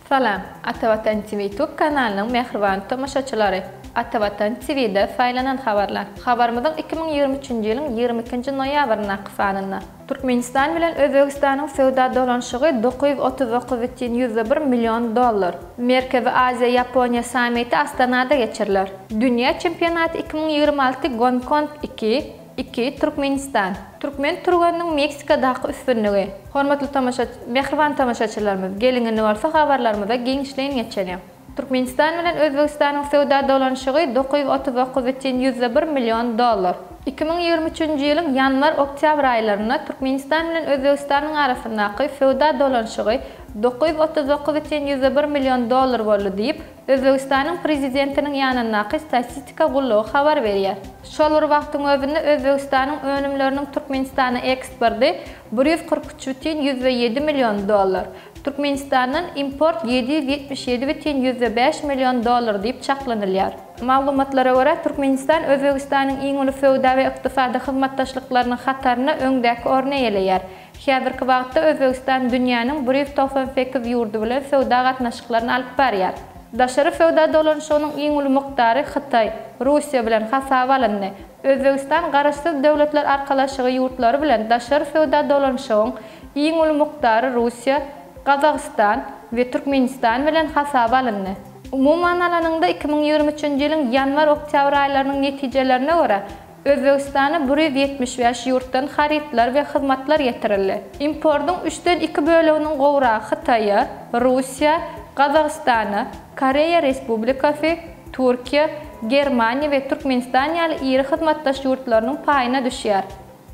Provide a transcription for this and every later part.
Salam, Ata Watan TV Tube kanalynyň mähriban tomaşaçylary! Ata Watan TV-de saýlanan habarlar. Habarymyzyň iki müň ýigrimi üçünji ýylyň ýigrimi ikinji noýabryndaky sanynda. Türkmenistan bilen Özbegistanyň söwda dolanyşygy dokuz ýüz otuz dokuz bütin ýüzde bir million dollar. Merkezi Aziýa, Ýaponiýa sammiti Astanada geçiriler. Dünýä çempionaty iki müň ýigrimi alty Gonkong iki, iki, Türkmenistan. Türkmen türgeniniň Meksikadaky üstünligi. Hormatly tomaşa Mähriban tomaşaçylarymyz, geliň indi bolsa habarlarymyza giňişleýin geçeliň. Türkmenistan bilen Özbegistanyň söwda dolanyşygy dokuz ýüz otuz dokuz ütün ýüzde bir million dollar. Iki müň ýigrimi üçünji ýylyň ýanwar-oktýabr aýlarynda Türkmenistan bilen Özbegistanyň arasyndaky söwda dolanyşygy Dokuz ýüz otuz dokuz üçin ýüz bir million dollar boldy diýip, Özbegistanyň prezidentiniň ýanyndaky statistika gullugy habar berýär. Şol bir wagtyň özünde Özbegistanyň önümleriniň Türkmenistana eksporty bir ýüz kyrk üç bütin ýüzde ýedi million dollar, Türkmenistandan import ýedi ýüz ýetmiş ýedi bütin ýüzde bäş million dollar diýip çaklanylýar. Maglumatlara görä, Türkmenistan Özbegistanyň iň uly söwda we ykdysady hyzmatdaşlyklarynyň hatarynda öňdäki orny eýeleýär. Häzirki wagtda Özbegistan dünýäniň bir ýüz togsan sekiz ýurdy bilen söwda gatnaşyklaryny alyp barýar. Daşary söwda dolanyşygynyň iň uly mukdary Hytaý, Russiýa bilen hasaba alyndy. Özbegistan Garaşsyz Döwletler Arkalaşygy ýurtlary bilen daşary söwda dolanyşygyň iň uly mukdary Russiýa, Gazagystan we Türkmenistan bilen hasaba alyndy. Umuman alanyňda, iki müň ýigrimi üçünji ýylyň ýanwar-oktýabr aýlarynyň netijelerine görä, Özbegistana bir ýüz ýetmiş bäş ýurtdan harytlar we hyzmatlar getirildi. Importyň üçden iki böleginiň gowragy Hytaýa, Russiýa, Gazagystana, Koreýa Respublikasy, Türkiýe, Germaniýa we Türkmenistan ýaly iri hyzmatdaş ýurtlarynyň paýyna düşýär.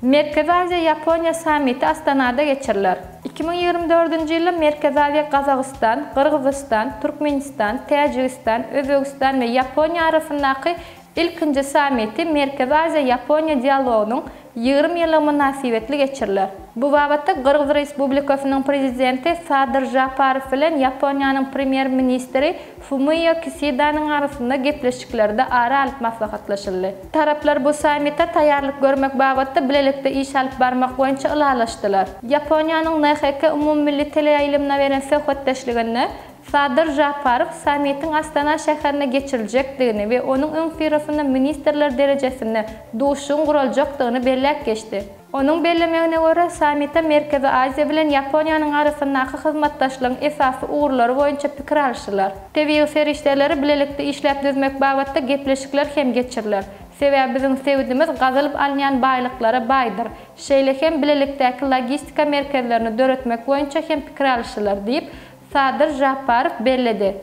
Merkezi Aziýa, Ýaponiýa sammiti Astanada geçiriler. Iki müň ýigrimi dördünji ýylda Merkezi Aziýa Gazagystan, Gyrgyzystan, Türkmenistan, Täjigistan, Özbegistan we Ýaponiýa arasyndaky Ilkinji sammiti Merkezi Aziýa-Ýaponiýa dialogynyň ýigrimi ýyllygy mynasybetli geçiriler. Bu babatda Gyrgyz Respublikasynyň Prezidenti Sadyr Žaparow bilen Ýaponiýanyň Premýer-ministri Fumio Kisidanyň arasynda gepleşiklerde ara alyp maslahatlaşyldy. Taraplar bu sammite taýýarlyk görmek babatda bilelikde iş alyp barmak boýunça ylalaşdylar. Ýaponiýanyň NHK umumymilli teleýaýlymyna beren söhbetdeşliginde Sadyr Žaparow sammitiň Astana şäherinde geçiriljekdigini we onuň öňüsyrasynda ministrler derejesinde duşuşygyň guraljakdygyny belläp geçdi. Onuň bellemegine görä, sammite Merkezi Aziýa bilen Ýaponiýanyň arasyndaky hyzmatdaşlygyň esasy ugurlary boýunça pikir alşylar. Tebigy serişdeleri bilelikde işläp düzmek babatda gepleşikler hem geçiriler. Sebäbi biziň sebitimiz gazylyp alynýan baýlyklara baýdyr. Şeýle hem bilelikdäki logistika merkezlerini döretmek boýunça hem pikir alşylar diýip, Sadyr Žaparow belledi.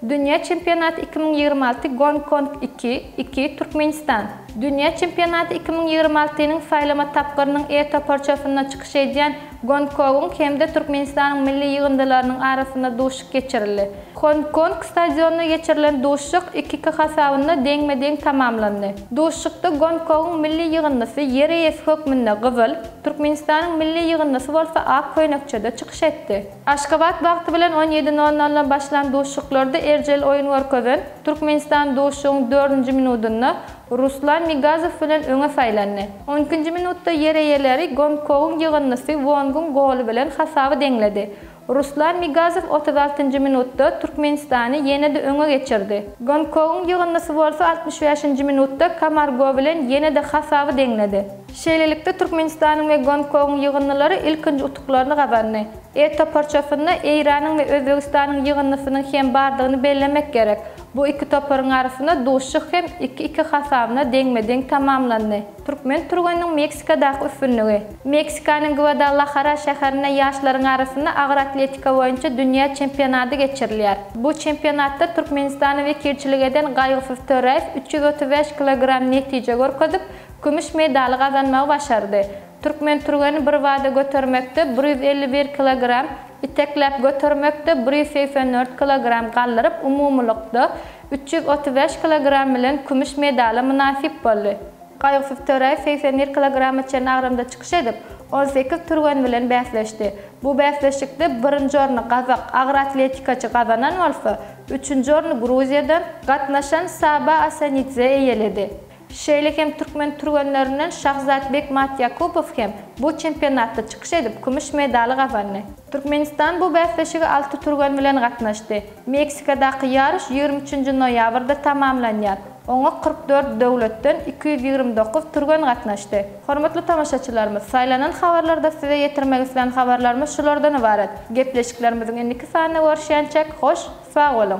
Dünýä çempionaty iki müň ýigrimi alty Gonkong iki, iki, Türkmenistan, Dünýä çempionaty iki müň ýigrimi alty nyň saýlama tapgyrynyň E toparçasynda çykyş edýän Gonkogyň hem-de Türkmenistanyň milli ýygyndylarynyň arasynda duşuşyk geçirildi. Gonkong stadionynda geçirilen duşuşyk iki-iki hasabynda deňme-deň tamamlandy. Duşuşykda Gonkogyň milli ýygyndysy ýer eýesi hökmünde gyzyl, Türkmenistanyň milli ýygyndysy bolsa ak köýnekçede çykyş etdi. Aşgabat wagty bilen on ýedi nol noldan başlan duşuşyklarda erjel oýun görkezen Türkmenistan duşuşygyň dördünji minudynda Ruslan Migazow bilen öňe saýlandy. On ikinji minutda ýer eýeleri Gongkogyň ýygyndysy Wongyň goly bilen hasaby deňledi. Ruslan Migazow otuz altynjy minutda Türkmenistany ýene-de öňe geçirdi. Gongkogyň ýygyndysy bolsa altmyş bäşinji minutda Kamargo bilen ýene-de hasaby deňledi. Şeýlelikde, Türkmenistanyň we Gonkongyň ýygyndylary ilkinji utuklaryny gazandy. E toparçasynda Eýranyň we Özbegistanyň ýygyndysynyň hem bardygyny bellemek gerek. Bu iki toparyň arasynda duşuşyk hem iki-iki hasabynda deňme-deň tamamlandy. Türkmen türgeniniň Meksikadaky üstünligi. Meksikanyň Gwadalahara şäherinde ýaşlaryň arasynda agyr atletika boýunça dünýä çempionady geçirilýär. Bu çempionatda Türkmenistana wekilçilik eden Gaýgysyz Töräýew üç ýüz otuz bäş kilogram netije görkezip, Kümüş medaly gazanmagy başardy. Türkmen türgeni birbada götermekde bir ýüz elli bir kilogram, itekläp götermekde bir ýüz segsen dört kilogram galdyryp, umumylykda, üç ýüz otuz bäş kilogram bilen kümüş medala mynasyp boldy. Gaýgysyz Töräýew segsen bir kilograma çenli agramda çykyş edip, on sekiz türgen bilen bäsleşdi. Bu bäsleşikde birinji orny gazak agroatletikaçy gazanan bolsa, üçünji orny Gruziýadan gatnaşan Saba Asanidze eýeledi. Şeýle hem türkmen türgenlerinden Şahzat Bekmat Ýakupow hem bu çempionatda çykyş edip, kümüş medaly gazandy. Türkmenistan bu bäsleşige alty türgen bilen gatnaşdy. Meksikadaky ýaryş ýigrimi üçünji noýabrda tamamlanýar. Oňa kyrk dört döwletden iki ýüz ýigrimi dokuz türgen gatnaşdy. Hormatly tomaşaçylarymyz, saýlanan habarlarda size ýetirmek islän habarlarymyz şulardan ybarat. Gepleşiklerimiziň indiki sanynda görüşýänçäk, hoş, sag boluň!